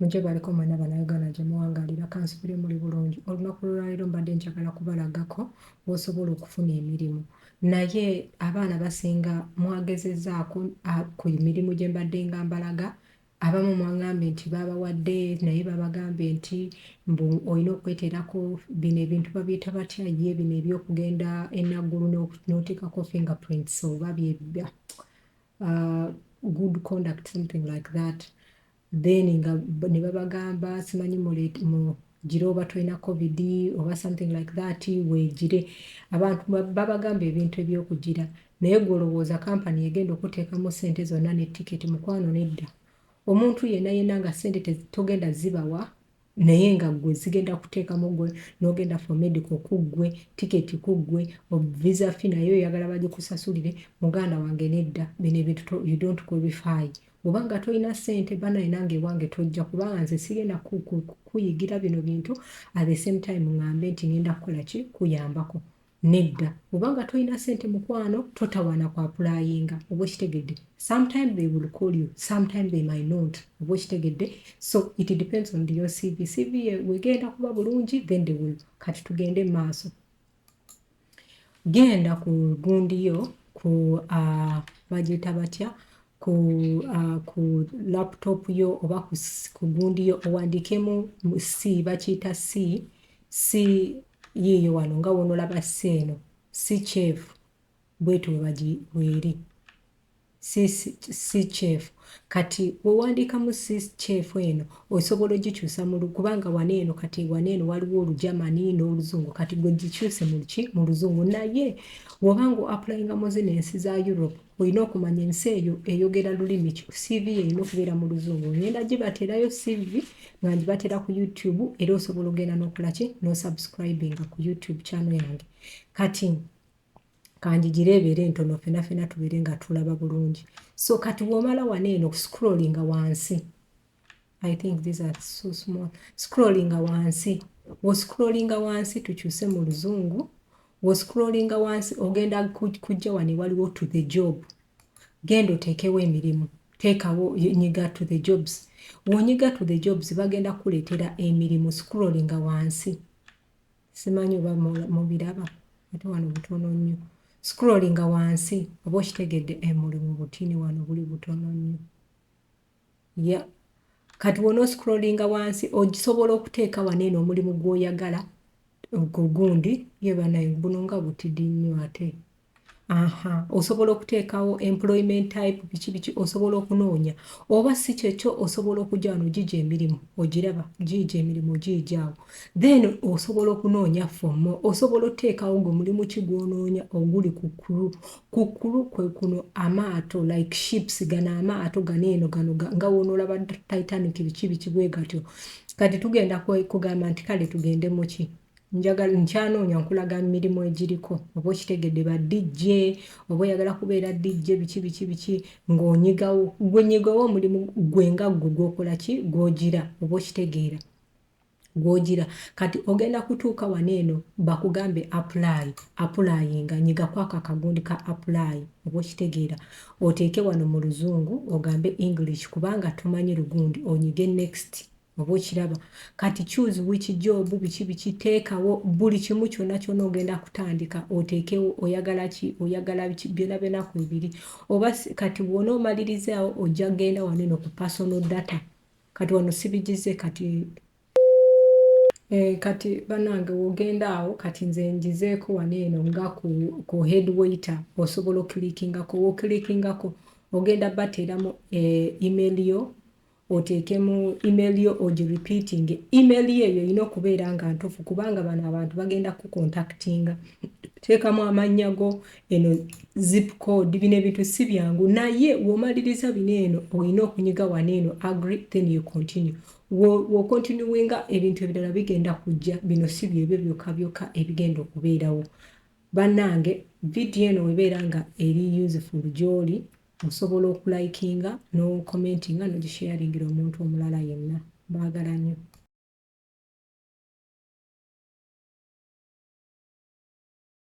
mujje baliko mwena banayuganda gye muwangalira kansubire muli bulungi olunaku lwolwaliro mbadde njagala kubalagako wosobola okufuna emirimu naye abaana basinga mwagezezaako ku mirimu gye mbadde nga mbalaga Abamu mwangambye nti babawadde naye babagambye nti mbu olina okweterako bino ebintu babiyita batya ye bino ebyokugenda enaggulu n'oteekako fingerprints oba bye uh, good conduct something like that then nga ne babagamba simanyi gira oba tolina covid oba something like that wegire abantu babagamba ebintu ebyokugira naye gwe olowooza kampani egenda okuteekamu sente zonna ne tiketi mukwano nedda omuntu yena yena nga sente togenda zibawa naye nga gwe zigenda kuteekamu gwe nogenda for medical kuggwe tiketi kuggwe visa fi naye oyagala bagikusasulire muganda wange nedda bino ebintu you don't qualify Bwoba nga tolina sente banaye nange ewange tojja kubanga nze sigenda kuyigira bino bintu at the same time ngambe nti ngenda kukola ki kuyambako nedda bwoba nga tolina sente mukwano totawana kwa pulayinga oba okitegedde sometime they will call you sometime they might not oba okitegedde so it depends on your cv cv wegenda kuba bulungi then they will kati tugende maaso genda ku gundi yo ku uh, bagiyita batya ku, uh, ku laptop yo oba ku, ku gundi yo owandikemu c bakiyita c c yiiyo wano nga wonolaba c eno si kyevu bwetyo webagi weeri Sis si kyefu kati wewandiikamu sis kyefu eno osobola ogikyusa mulu kubanga wano eno kati wano eno waliwo olujamani n'oluzungu kati gwe gikyuse mulki mu luzungu naye woba nga oapulayinga mu zino ensi za europe olina okumanya ensi eyo eyogera lulimi ki cv erina okubeera mu luzungu ngenda gibateerayo cv nga ngibateera ku youtube era osobola ogenda n'okolaki n'osubscribinga ku youtube channel yange kati kanjigire ebeere entono fena fena tubeere nga tulaba bulungi so kati womala wana eno scrollinga wansi i think these are so small scrollinga wansi woscrollinga wansi tukyuse mu luzungu woscrollinga wansi ogenda kujja wano ewaliwo to the job genda oteekewo emirimu teekawo nyiga to the jobs wonyiga to the jobs bagenda kukuleetera emirimu scrollinga wansi simanyi oba mubiraba ate wano butono nnyo scrollinga wansi oba okitegedde emulimu eh, butini wano buli butono nnyo ya kati wona oscrollinga wansi ogisobola okuteeka wano eno omulimu gwoyagala ogwo gundi ye banaye buno nga butidi nnyo ate aha osobola okuteekawo employment type biki biki osobola okunoonya oba si kyekyo osobola okujja wano ogiija emirimu ogiraba giija emirimu ogiijaawo then osobola okunoonya fomo osobola oteekawo gwe mulimu ki gwonoonya oguli ku kulu ku kulu kwe kuno amaato like ships gano amaato gano eno gano nga wonoolaba titanic biki biki bwe gatyo kati tugenda kugamba nti kale tugende muki njagala nkyanoonya nkulaga mirimu egiriko oba okitegedde ba DJ oba oyagala kubeera DJ biki biki biki ng'onyigawo gwe nyigawo omulimu gwe nga gwe gwokola ki gwogira oba okitegeera gwogira kati ogenda kutuuka wano eno bakugambe apply applyinga nyiga kwako akagundi ka apply oba okitegeera oteeke wano mu luzungu ogambe english kubanga tumanyi lugundi onyige next oba okiraba kati choose which job biki biki teekawo buli kimu kyonna kyona ogenda kutandika oteekewo oyagala ki oyagala biki byona byona ku ebiri oba kati bwona omalirizaawo ojja genda wano eno ku personal data kati wano sibigize kati Eh, kati banange wogenda awo kati nze njizeeko wano eno nga ku, ku head waiter osobola okulikingako wokilikingako ogenda bateeramu eh, email yo oteekemu email yo ogi repeating email yo eyo erina okubeera nga ntuufu kubanga bano abantu bagenda kukontaktinga teekamu amannya go eno zip code bino ebintu si byangu naye womaliriza bino eno olina okunyiga wano eno agri then you continue wokontinuwinga ebintu ebirala bigenda kujja bino si byebyo byokka byokka ebigenda okubeerawo bannange vidiyo eno webeera nga eri useful gyoli Osobola oku likinga no commentinga no gi sharingira omuntu omulala yenna. Mbagala nyo.